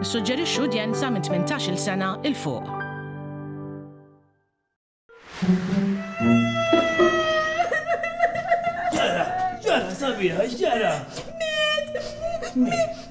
Nissuġġerixxu udjenza minn 18-il sena 'l fuq. Ġara, ġara, sabiħa, x'ġara? Miet!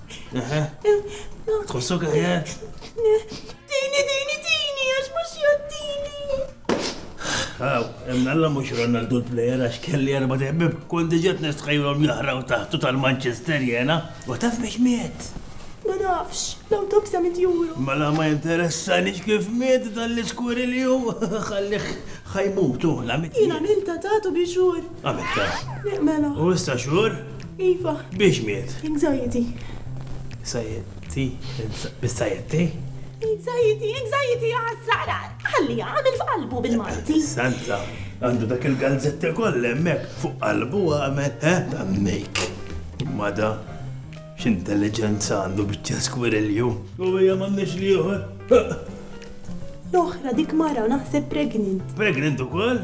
Tħossok aħjar? Tini, tini, tini, għax mux jottini. Għaw, emnalla mux Ronaldu l-player għax kelli erba teħbib, kon diġet nistħajlom jahraw taħtu tal-Manchester jena, u taf biex miet. Ma nafx, law tobsa mit juru. Ma la ma interessa nix kif miet dan l-iskuri li ju, xalliħ xajmutu, la mit. Jina milta tatu biex xur. Għamilta. Mela. U issa xur? Iva. Biex miet? Anxiety. Anxiety? Anxiety? Anxiety, anxiety, għasra, ħalli għamil f'qalbu bil-Malti. Santa, għandu dak il-galzetti koll emmek fuq qalbu għamel, eh, tammek. Mada, x'intelligenza għandu bieċa skwirilju. U hija m'għandniex li L-oħra dik mara naħseb pregnant. Pregnant ukoll?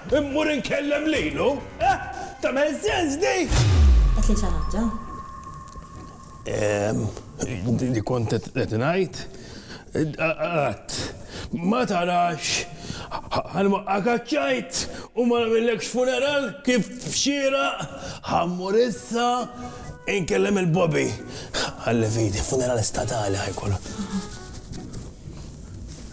Immur inkellem lilu? Eh! Tagħmel sens di? Għedtli xi ħaġa? Ehm, li kont qed ngħid? Qatt. Ma tarax ħalma akaċċajt u ma nagħmillekx funeral kif xira ħammur issa inkellem il-Bobby. Għalli fidi, funeral statali ħajkollu.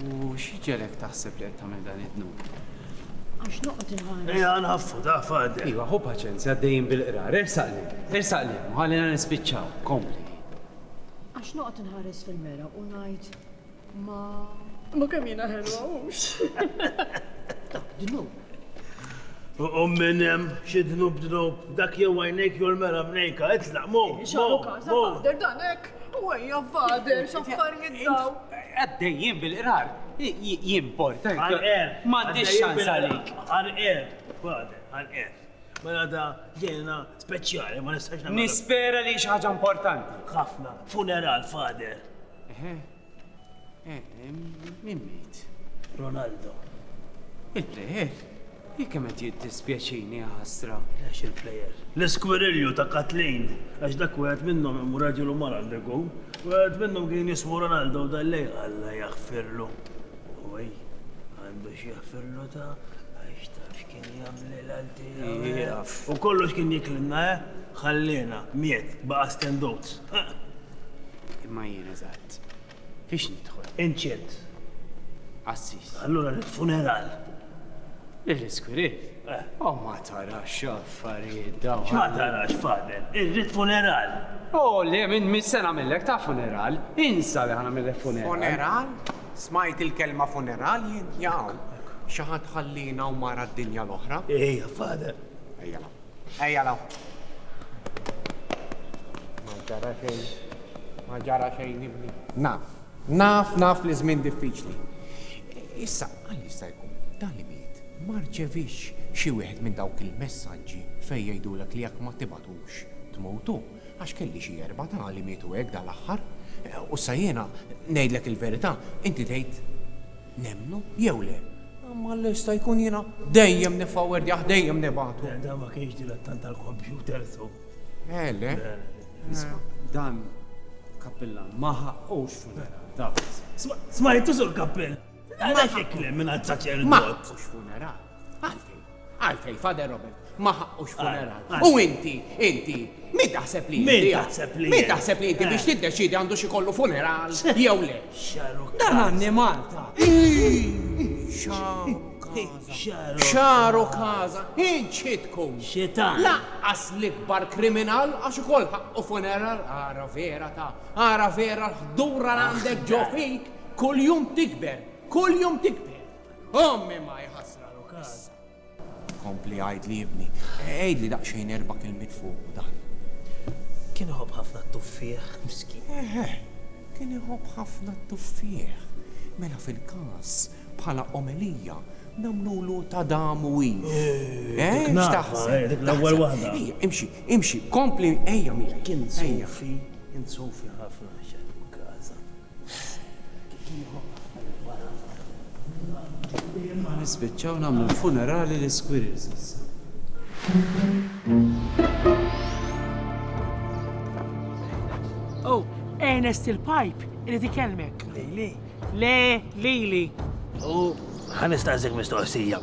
U x'ġegħlek taħseb li qed tagħmel dan id-dnub? Għax noqgħod inħares. Ejja nħaffu, taf għaddi. Iva, ħu paċenzja, għaddejjin bil-qrar. Ersaq li, ersaq li, ħallina nispiċċaw, kompli. Għax noqgħod inħares fil-mera u ngħid ma. Ma kemm jiena ħelwa hux. Dnub. U minn hemm xi dnub dnub dak jew għajnejk jew l-mera mnejka, itlaq, mo, mo, mo. Derdanek. U ejja fader, x'affarijiet daw. Għaddejjin bil-qrar, jimporta. Għal-qer. M'għandix xans għalik. Għal-qer, fader, għal-qer. Mela da ġejna speċjali, ma nistax nagħmel. Nispera li xi ħaġa importanti. Ħafna, funeral, fader. Min miet? Ronaldo. Il-plejer? Jekk kemm qed jiddispjaċini ħasra. Għax il-plejer. L-iskwirilju ta' Kathleen, għax dak wieħed minnhom hemm raġel u mara għandeku, wieħed minnhom kien jismu Ronaldo u dallej Alla jaħfirlu. Uwej, għandu x'jaħfirlu ta' għax taf U kollox kien jiklilna, eh? Ħalliena, miet, baqa' stenduts. Imma jien, eżatt, fiex nidħol? Inċirt. Qassis. Allura rrid funeral. L-iskwirit? Eh. O ma tarax x'affarijiet dawn. X'ma tarax, Fadel? Irrid funeral. O le, minn mis-sena millek ta' funeral. Insa li ħanamillek funeral. Funeral? Smajt il-kelma funeral jien? Jaqaw. Xi ħadd ħallina u mar għad-dinja l-oħra? Ejja, Father. Ejja law. Ejja law. Ma ġara xejn. Ma ġara xejn ibni. Naf. Naf, naf li żmien diffiċli. Issa, għal jista' jkun, dan li miet ma rċeviex xi wieħed minn dawk il-messaġġi fejn jgħidulek li jekk ma tibgħatux tmutu. Għax kelli xi erba' ta' li mietu hekk dal-aħħar. U issa jiena ngħidlek il-verità, inti tgħid nemmnu jew le. Imma jista' jkun jiena dejjem niffawwerdjah, dejjem nibagħtu. Le, dan ma kienx dilettant tal-kompjuter, so. Eh, le? Le, le. Isma', dan kappillan ma ħaqqux funeral, taf. Smajtu, Sur Kappillan? Għaliex hekk le mingħand saċerdot? Ma ħaqqux funeral. Għalfej, Father Robert, ma ħaqqux funeral. U inti, inti, min taħseb li Min taħseb li Min taħseb li inti biex eh. tiddeċidi għandu xi kollu funeral jew le. Dan għanni Malta. Xaru kaza, ħin ċitkum. Xitan. Laqqas l-ikbar kriminal għax ukoll ħaqqu funeral għara vera ta' għara vera ħdura għandek ġofik kull jum tikber, kull jum tikber. Ommi ma jħassra l-ukas. Kompli għajdli ibni, għajdli daqsxejn erba' kelmiet fuq dan. Kien iħobb ħafna t-tuffieħ, miskin. Eħe, kien iħobb ħafna t-tuffieħ. Mela fil-każ, bħala omelija, nagħmlulu ta' dam u iv. Eh, x'taħseb? L-ewwel waħda. Ejja, imxi, imxi, kompli, ejja miegħi. Kien sofi, kien sofi ħafna xejn każa. Nispiċċaw nagħmlu funerali li squirrels issa. Oh, Ernest il-Pipe, irid ikellmek. Lili. Le, Lili. U ħanistaqsik mistoqsija.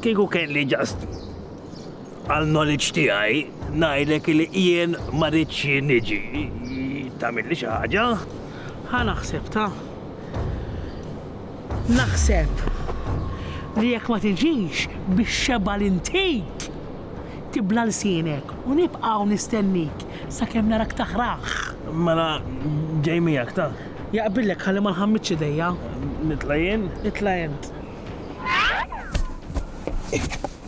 Kieku kelli ġast Għal knowledge tiegħi ngħidlek li jien ma ridx niġi tagħmilli xi ħaġa. Ħa naħseb ta. Naħseb li jekk ma tiġix bix-xebgħa li ntik, tibla' lsienek u nibqa' hawn nistennik sakemm narak taħraħ. Mela ġej miegħek ta. Jaqbillek ħalli ma nħammitx idejja. Nitla' jien? Itla' int.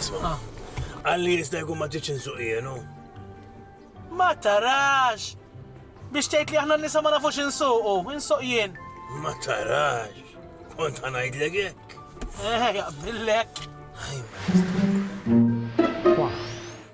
Isma, għalli jista jkun ma ġietx insuq jienu. Ma tarax! Biex tgħid li aħna nisa ma nafux insuqu, insuq jien. Ma tarax! Kont ħanajdlek hekk. Eh, jaqbillek. Ħajma.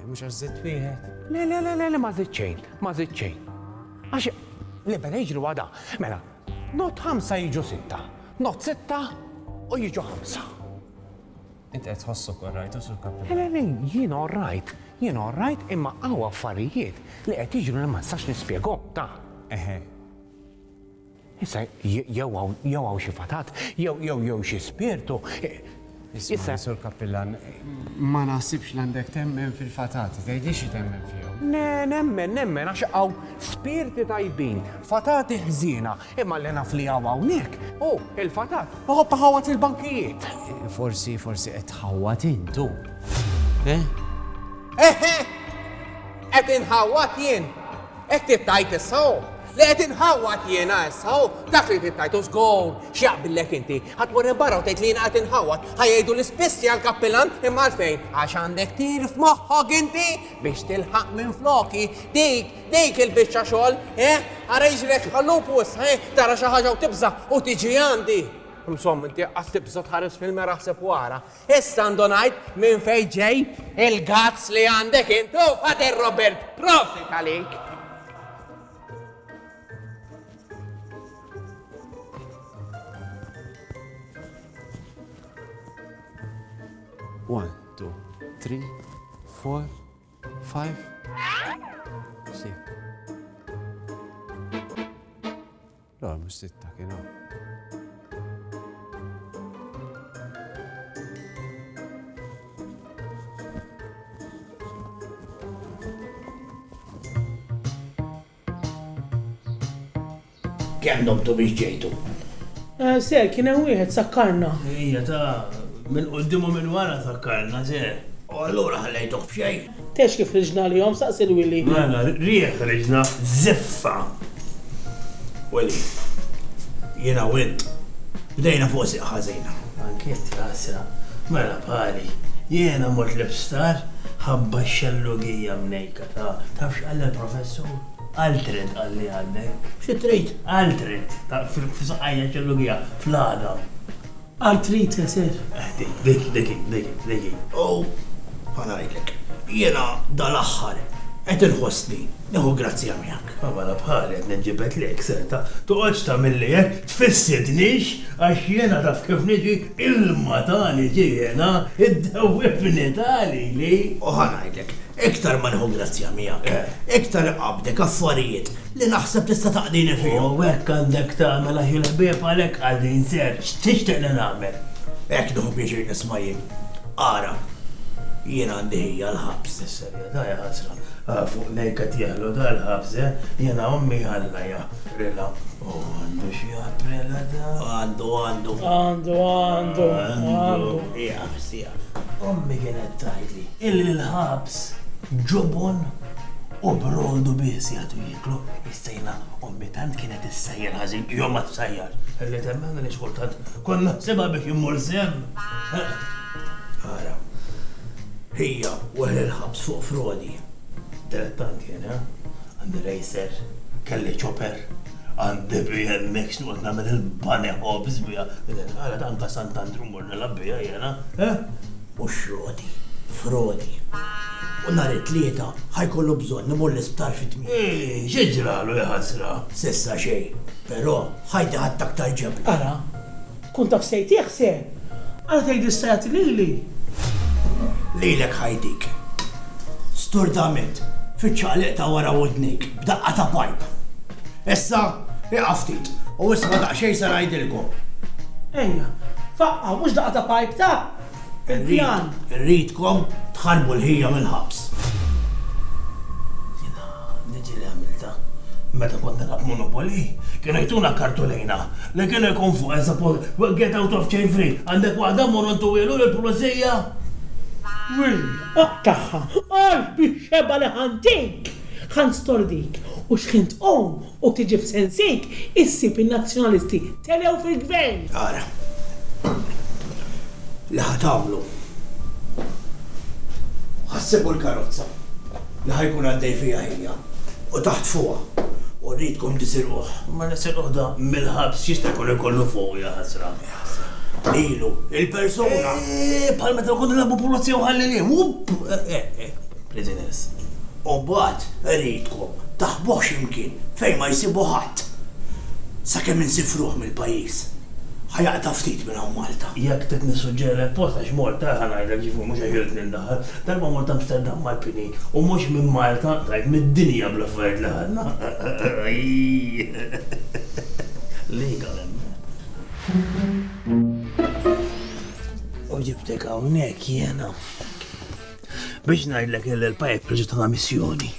Eh, mhux għax żitt wieħed. Le, le, le, le, ma żitt xejn, ma żitt xejn. Għax le mela jiġru għada. Mela, not ħamsa jiġu sitta, not sitta u jiġu ħamsa. Int qed tħossu korrajt u sur kapitlu. Le, le, jien orrajt, jien orrajt imma għaw affarijiet li qed jiġru li ma nistax nispjegom ta'. Eħe, Issa jew hawn jew hawn xi fatat, jew jew jew xi spirtu. Issa sur Kappillan, ma naħsibx l-għandek temmen fil-fatati, tgħidlix xi temmen fihom. Ne, nemmen, nemmen, għax hawn spirti tajbin, fatati ħżiena, imma li naf li hawn hawnhekk, hu il-fatat, iħobb iħawwad il-bankijiet. Forsi, forsi qed tħawwad intu. Eh? Eħe! Qed inħawwad jien! Qed tittajt issa hu? Li qed inħawwad jiena issa hu? Dak li tittajt hu żgur! X'jaqbillek inti? Ħa tmur hemm barra u tgħid li jiena qed inħawwad. Ħa jgħidu li spiss jgħal kappillan imma għalfejn? Għax għandek tir f'moħħok inti biex tilħaq minfloki dik, dik il-biċċa xogħol, eh? Ara jiġrek bħal lupu issa, eh? Tara xi ħaġa u tibża' u tiġi għandi. Insomma, inti qas tibża' tħares fil-mera ħseb wara. Issa għandu ngħid minn fejn ġej il-gazz li għandek int u Father Robert. Prosit għalik. One, two, three, four, five, six. Le, mhux sitta kien hawn. Kemm domtu biex ġejtu? Eh, ser, kien hemm wieħed sakkarna. Ejja ta' minn quddimu minn wara sakkarna, ser. U allura ħallejtuh f'xejn? Tgħidx kif ħriġna għalihom, staqsi 'l Willy. Mela, rieh ħriġna żiffa. Willy, jiena u int, bdejna fuq sieq ħażin. Anki int, jaqsra. Mela, Pali, jiena mort l-isptar ħabba x-xellugija mnejka, taf. Taf x'qal l-professur? Qal trid, qalli għandek. Xi trid? Qal trid, taf, fis-saqajja x-xellugija, fl-għadam. Art trid teser? Dik, dik hi, dik hi, dik hi. U ħa ngħidlek, jiena dal-aħħar qed inħossni nieħu grazzja miegħek. A mela bħali qed ninġibed lejk, Seta. Toqgħodx tagħmilli hekk, tfissitnix għax jiena taf kif niġi, ilma ta' niġi jiena, iddewwibni ta' lili. U ħa ngħidlek, iktar ma nieħu grazzja miegħek, iktar iqabbdek affarijiet li naħseb tista' taqdini fihom. U hekk għandek tagħmel għax il-ħbieb għalhekk qagħdin sew. X'tixtieq li nagħmel? Hekk nieħu pjaċir nisma' jien. Ara, jien għandi ħija l-ħabs. Is-serjetà hija ħasra. Fuq nejk qed jeħlu dal-ħabs, eh? Jiena ommi Alla jaħfrilha. U għandu x'jaħfrilha dan? Għandu, għandu. Għandu, għandu, għandu. Ħabs tiegħek. Ommi kienet tgħidli illi l-ħabs ġubun u brodu biss jagħtu jieklu. Issa jiena ommi tant kienet issejjer ħażin jew ma tsejjar. Illi temmen għaliex kultant kont naħsibha biex immur sehem. Ara, hija wara l-ħabs fuq frodi. Tret tant jien, eh? Għandi rejser, kelli ċoper, għandi BMX noqgħod nagħmel il-bunny hops biha. Ara tant ta' Sant'Andrew mort. Nilgħab biha jiena, eh? U xroti, frodi. U nhar it-Tlieta ħa jkollu bżonn imur l-isptar fi tmiem. Eeh, xi ġralu, ja ħasra? S'issa xejn, però ħajti ħadt aktar ġebla. Ara, tkun taf se jtih se! Ara tgħid issa jagħti lili? Lilek ħajtik. Sturdament, fiċ-ċaqliq ta' wara widnejk, b'daqqa ta' pajp. Issa, iqaf ftit, u isma' daqsxejn se ngħidilkom. Ejja, faqqa, mhux daqqa ta' pajp ta'? Il-pjan. Irridkom tħarbu l-ħija mill-ħabs. Jiena diġi li għamilta. Meta kont nilgħab Monopoly, kienu jtuna kartulina li kienu jkun fuq eżapo get out of chain free, għandek waħda mmorru ntuwielu lill-pulizija? Will, oqtaħħa, qalbi xebgħa li ħantik! Ħa nstordik, u xħin tqum u tiġi f'sensik issib in-Nazzjonalisti telew fil-Gvern! Ara li ħa tagħmlu. Ħa ssibu l-karozza li ħa jkun għaddej fiha ħija u taħtfuha u rridkom tisirquh. Mela sirquh da mill-ħabs x'jista' jkun ikollu fuqu jaħasra? Ilu, il-persuna! Eeh, bħal meta nkunu nilagħbu pulizija u ħallelien, wupp! Readiness. U mbagħad iridkom taħbuh xi mkien fejn ma jsibu ħadd. Sakemm insifruh mill-pajjiż. Ħa jaqta' ftit minn hawn Malta. Jekk trid nissuġġerilek post għax mort eh ħa ngħidlek ġifieri mhux għax irrid nindaħal. Darba mort Amsterdam mal-pini u mhux minn Malta tajt mid-dinja bl-affarijiet li ħadna eehh lejk għal hemmhekk. U ġibtek hawnhekk jiena. Biex ngħidlek il-pajek proġett ta' missjoni.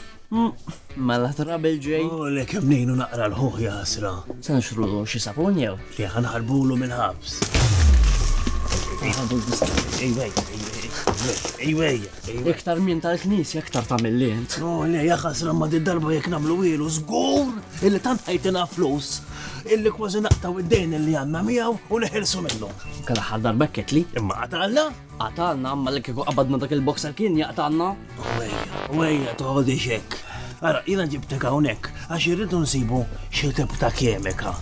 Mela trabil ġej. U oh, le kemm nejnu naqra l-ħuħ jasra. Sanxru xi sapun jew? Le ħanħarbulu mill-ħabs. Iktar minn tal-knisja, iktar ta' mill-lint. No, oh, le, jaxas ramma di darba jek namlu ilu, zgur, illi tant ħajtina flus, illi kważi naqtaw id-dejn illi għanna miegħu u neħelsu minnu. Kalla ħal darba ketli, imma għadalla. Qatgħalna, mela kieku qabadna dak il-boxer kien jaqtgħalna? Wejja, wejja toħodix hekk. Ara, jiena ġibtek hawnhekk għax irridu nsibu xi tip ta' kemika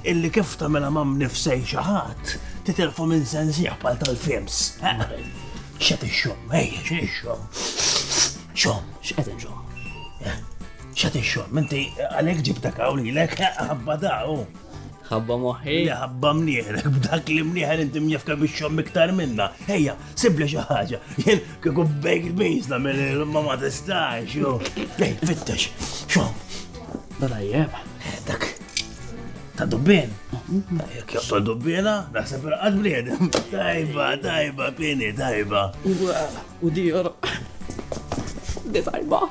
illi kif tagħmilha ma' mnifsej xi ħadd titilfu minn sensiħ bħal tal-films. Xa tixxom, ejja, xa tixxom. Xom, x'qed inxom. Xa tixxom, inti għalhekk ġibtek hawn lilek ħabba daw. Ħabba moħħi. Li ħabba mnieħrek, b'dak li mnieħer inti mjefka biex xom iktar minna. Ejja, sibli xi ħaġa. Jien kieku baked beans nagħmel il-ma ma tistax, jo. Ej, fittex, xom. Dajjeb. Eh, dak. Ta' dubbien. Jek joqtol dubbiena, naħseb il-qad bliedem. Tajba, tajba, pieni, tajba. U di jor. Di tajba.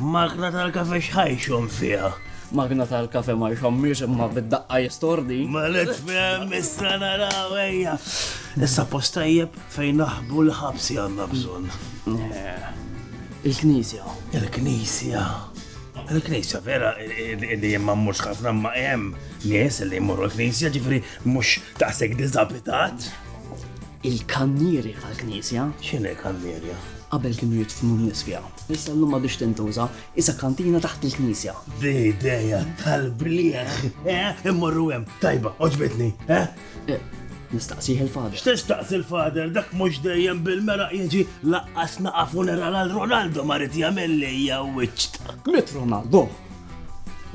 Magna tal-kafe xħajxom fija. Magna tal-kafe ma jxommiex imma bid-daqqa jistordi. Ma let fem, issa naraw ejja. Issa postajjeb fejn naħbu l-ħabsi għanna bżon. Eh, Il-knisja. Il-knisja. Il-knisja vera li jemma mux ħafna ma jem nies li jmurru l-knisja ġifri mux taqsek dizabitat. Il-kannierja tal-knisja. X'inhi kannierja? Qabel kienu jidfnu n-nies fiha. Issa llum m'għadhiex tintuża, issa kantina taħt il-knisja. B'idea tal-blieħ, eh? Immorru hemm, tajba, oġbitni, eh? eh Nistaqsih il-fader. X'tistaqsi il-fader dak mhux dejjem bil-meraq jiġi laqqas naqa' funeral għal Ronaldo ma rid jagħmel li hija wiċċta. Mit Ronaldo?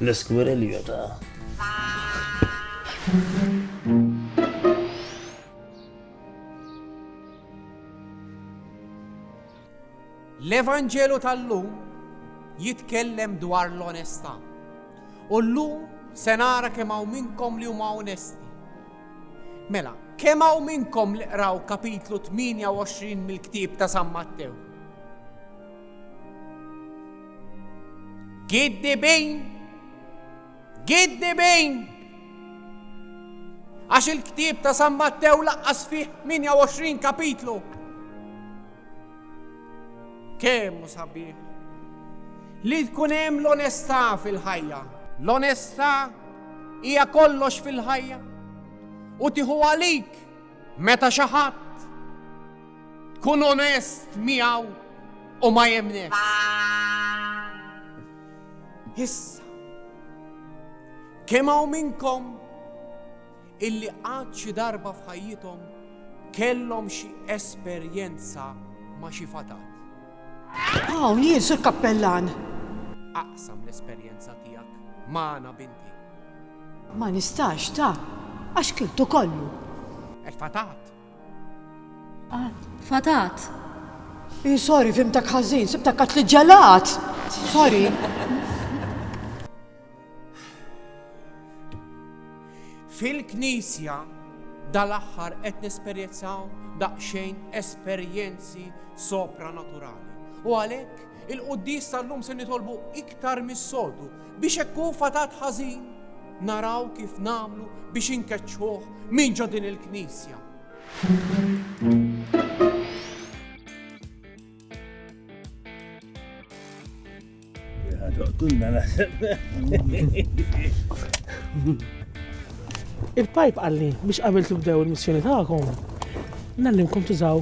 L-iskwirilju ta' L-Evanġelu tal-lum jitkellem dwar l-onestà. U llum se nara kemm hawn minnkom li huma onesti. Mela, kemm hawn minnkom li qraw kapitlu 28 mill-ktieb ta' San Mattew? Kiddibin! Giddibin! Għax il-ktieb ta' San Mattew laqqas fih 28 kapitlu. Kemm sabiħ li tkun hemm l-onestà fil-ħajja. L-onestà hija kollox fil-ħajja u tieħu għalik meta xi ħadd tkun onest miegħu u ma jemnek. Issa, kemm hawn minnkom illi qatt xi darba f'ħajjithom kellhom xi esperjenza ma' xi fatat? Hawn jien, Sur Kappellan. Aqsam l-esperjenza tiegħek magħna binti. Ma nistax, ta, għax kltu kollu. Il-fatat Ah, fatat. I, sorry, fimtak ħażin, sibtak kat li ġelat. Sorry. Fil-Knisja dal-aħħar qed nesperjezzaw daqsxejn esperjenzi sopranaturali. U għalhekk Il-quddies tal-lum se nitolbu iktar mis-soltu biex hekk hu fatat ħażin naraw kif nagħmlu biex inkeċċuh minn ġo din il-knisja. Kunna naħseb. Il-pajp għalli biex qabel tibdew il-missjoni tagħkom, nallimkom tużaw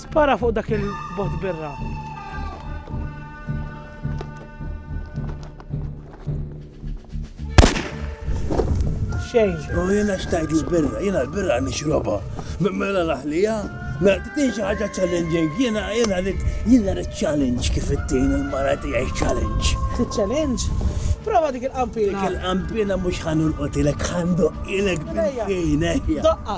Spara fuq dak il-bot birra. Xejn. U jena xtajt l-birra, jena l-birra nixroba. Mela laħlija, mela t-tin xaħġa challenging, jena jena rrit, jena rrit challenge kif it-tin il-mara tijaj challenge. T-challenge? Prova dik il-qampina. Dik il-qampina mux ħanul qotilek ħandu ilek bil-fejn, Daqqa.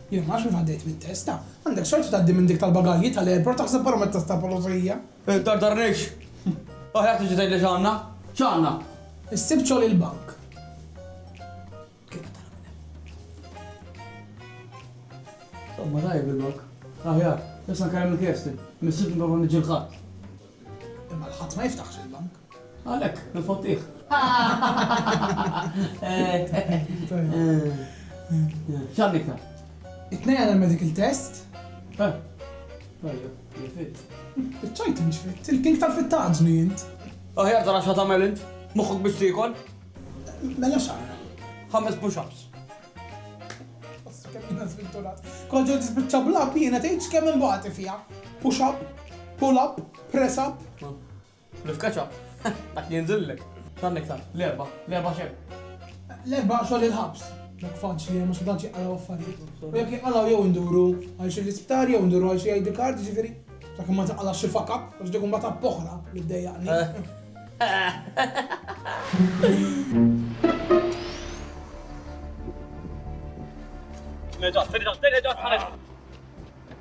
Jien ma nafx kif għaddejt mit-test. Għandek xogħol xi tgħaddi minn dik tal-bagalji tal-airport taħseb barra mit-test tal-pulizija? Iddardarniex! Aħjar tiġi tgħidli x'għandna. X'għandna? Issib xogħol il-bank. Kif tara minn hemm. Somma tajjeb il-bank. Aħjar. Issa nkellem il-Kirsten. Missiex nipprova niġġielħha. Imma l-ħadd ma jiftaħx il-bank. Għalhekk, nifottieh. X'għandna iktar? It-tnejn għandna l-medical test. Eh, tajjeb, jifit. Iċċajt inġfit, il-king tal-fittaġni int. Aħjar tara xa tagħmel int, moħħok biex tiekol. Mela xara. Ħames push-ups. Kemm żvilturat. Kont ġejt tispiċċa blab jiena tgħidx kemm imbagħad fiha. Push up, pull up, press up. Nifkaċha. Dak li jinżillek. Tant iktar. L-erbgħa. L-erbgħa x'hemm? L-erbgħa xogħol il-ħabs. Dak faċli hemm għax ma tantx jinqalgħu affarijiet. U jekk jinqalgħu jew induru għal xi l-isptar jew induru għal xi ID card, jiġifieri sakemm ma tinqalgħax xi fuck up għax dik imbagħad app oħra li ddejjaqni. Meta, fil-ġas, fil-ġas, ħareġ.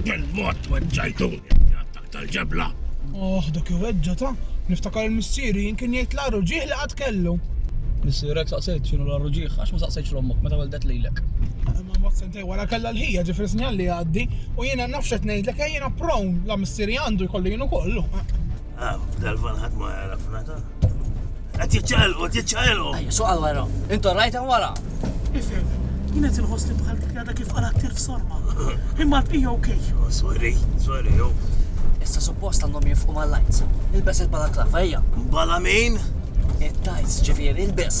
Bil-mod weġġajtu attak tal-ġebla. Oh, dak iweġġa ta' niftakar il-missieri jinkin jgħid l-għaru ġieħ li qatt kellu. Missierek saqsejt xinu l-għaru ġieħ, għax ma saqsejtx l-ommok meta weldet lilek. Ma mod sentej wara kellha l-ħija ġifri sinjal li għaddi u jiena nafxet ngħidlek eh, jiena prawn la missieri għandu jkollu jienu kollu. Ah, dal-van ħadd ma jarafna ta. Qed jiċċaqalqu, qed jiċċaqalqu. Ejja, suq għal wara. Intu rajt hemm wara. Ifhem, jien qed inħoss li bħal dik għadha kif qalat tir f'sorma. Imma l-bqija okej. Oh, sorry, sorry, jo. Issa suppost għandhom jifqu mal-lajts. Ilbes il-balaklava, ejja. Bala min? It-tajts ġifieri ilbes.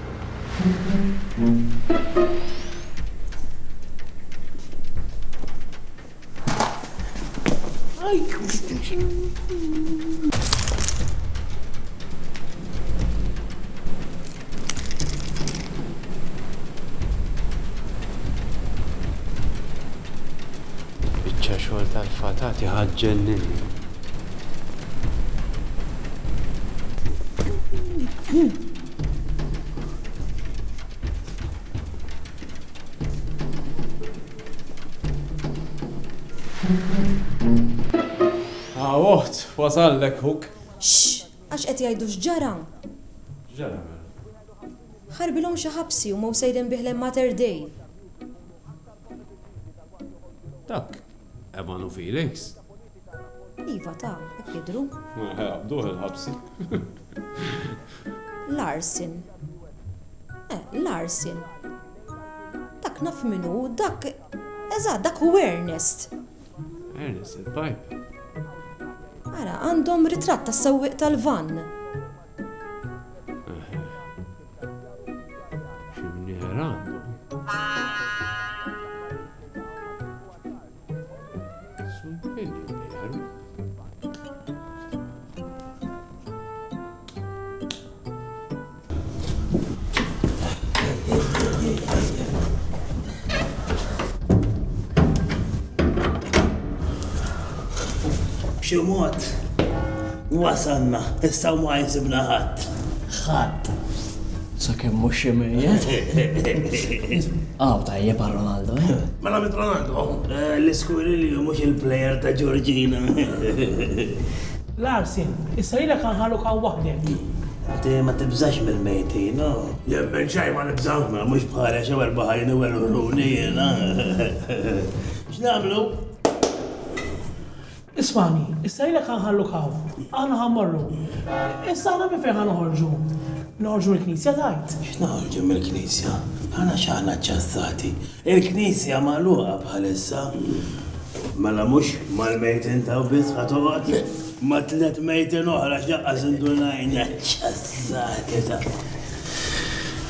Biċċa xogħol tal-fatati ħaġġennini. Ah, oħt, wasallek huk. Xx, għax qed jgħidu x'ġara. X'ġara mela? Ħarbilhom xi ħabsi u ma sejrin bih lejn Mater Dei. Dak, Evan u Felix. Iva ta, hekk jidhru. Mela ħa jaqbduh il-ħabsi. Larsen. Eh, Larsen. Dak naf min hu, dak. Eżatt, dak hu Ernest. Ernest il-pajp. Ara, għandhom ritratt tas-sewwieq tal-vann. B'xi mod wasalna, issa ma jsibna ħadd. Ħadd. Sakemm mhux xi mejjet. Aw, tajjeb għal Ronaldo, eh? Mela mit Ronaldo, l-iskuirilju mhux il-plejer ta' Ġorġina. Larsen, issa lilek għanħalluk hawn waħdek. Inti ma tibżax mill-mejtin, no? Jien minn xejn ma nibża', mhux bħali xi erba' ħajn u erba' ħruni jiena. X'nagħmlu? Ismagħni, issa ilek ħa nħalluk hawn. Aħna ħa mmorru. Issa aħna minn fejn ħa noħorġu? Noħorġu mill-knisja tgħid? X'noħorġu mill-knisja? Aħna x'aħna ċċassati? Il-knisja magħluqa bħalissa. Mela mhux mal-mejtin t'hawn biss ħa toqgħod? Ma' tliet mejtin oħra x'laqqas indunajna. Ċċassati ta'.